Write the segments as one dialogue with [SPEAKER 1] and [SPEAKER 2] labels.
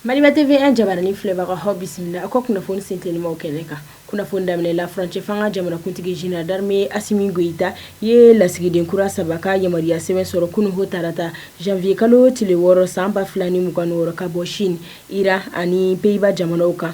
[SPEAKER 1] Maliba TV 1 jabaranin filɛbagaw aw bisimila aw ka kunnafoni sentelimaw kɛnɛ kan kunnafoni daminɛ la furancɛ fanga jamanakuntigi Général d'armée Asimi Goyita ye lasigiden kura saba ka yamaruya sɛbɛn sɔrɔ kunun ho tarata janvier kalo tile wɔɔrɔ san ba fila ni mugan ni wɔɔrɔ ka bɔ Chine, Iran ani Pays-Bas jamanaw kan.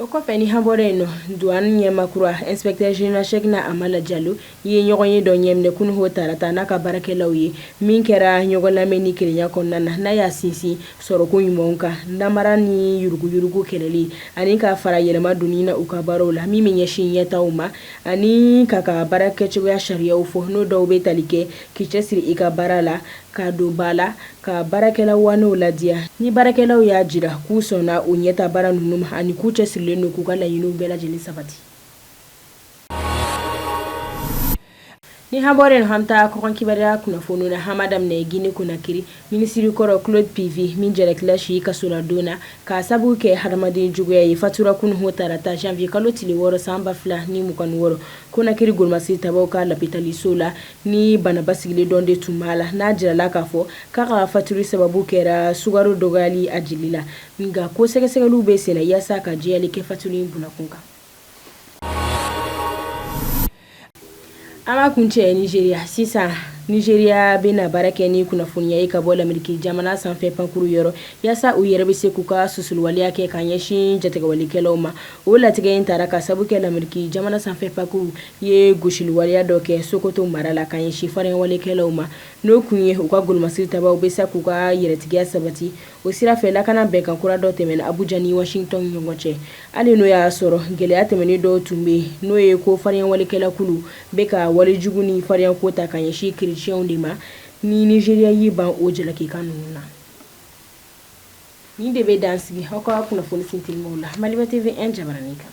[SPEAKER 1] O kɔfɛ ni an bɔra yen nɔ douane ɲɛmaa kura inspecteur général Cheickna Amala Diallo ye ɲɔgɔnye dɔ ɲɛminɛ kunun tarata n'a ka baarakɛlaw ye min kɛra ɲɔgɔn lamɛn ni kelenya kɔnɔna na n'a y'a sinsin sɔrɔko ɲumanw kan namara ni yuruguyurugu kɛlɛli ani ka fara yɛlɛma donni na u ka baaraw la min bɛ ɲɛsin ɲɛtaaw ma ani k'a ka baarakɛcogoya sariyaw fɔ n'o dɔw bɛ tali kɛ k'i cɛsiri i ka baara la k'a don ba la Ka baarakɛla waanew ladiya ni baarakɛlaw y'a jira k'u sɔnna u ɲɛtaa baara ninnu ma ani k'u cɛsirilen don k'u ka laɲiniw bɛɛ lajɛlen sabati ni an bɔra yen an bɛ taa kɔkan kibaruya kunnafoni na an b'a daminɛ Guinée Conakry minisiri kɔrɔ Claude Pivi min jalakila si kasoladon na k'a sabu kɛ hadamaden juguya ye fatura kunun tarata janvier kalo tile wɔɔrɔ san ba fila ni mugan wɔɔrɔ Conakry golomasiri tabaw ka lapitaliso la Ni bana basigilen dɔ de tun b'a la n'a jirala k'a fɔ k'a ka fatuli sababu kɛra sukaro dɔgɔyali a jeli la nka ko sɛgɛsɛgɛliw bɛ senna yaasa ka jɛyali kɛ fatuli in bɔkun kan an b'a kuncɛ Nizeriya sisan Nizeriya bɛna baara kɛ ni kunnafoniya ye ka bɔ lamerike jamana sanfɛ pankurun yɔrɔ yaasa u yɛrɛ bɛ se k'u ka susuli waleya kɛ ka ɲɛsin jatigɛwalekɛlaw ma o latigɛ in tara k'a sababu kɛ lamerike jamana sanfɛ pankurun ye gosili waleya dɔ kɛ Sokoto mara la ka ɲɛsin farinyawalekɛlaw ma, n'o kun ye u ka golomasiri tabaw bɛ se k'u ka yɛrɛtigiya sabati. O sira fɛ, lakana bɛnkan kura dɔ tɛmɛna Abuja ni Washington ɲɔgɔn cɛ. Hali n'o y'a sɔrɔ gɛlɛya tɛmɛnen dɔw tun bɛ yen, n'o ye ko farinyawalekɛlakulu bɛ ka walejugu ni farinyako ta ka ɲɛsin krecɛnw de ma, ni Nizeriya y'i ban o jalakikan ninnu na. Nin de bɛ dan sigi aw ka kunnafoni sentelimaw la Maliba TV 1 jabaranin kan.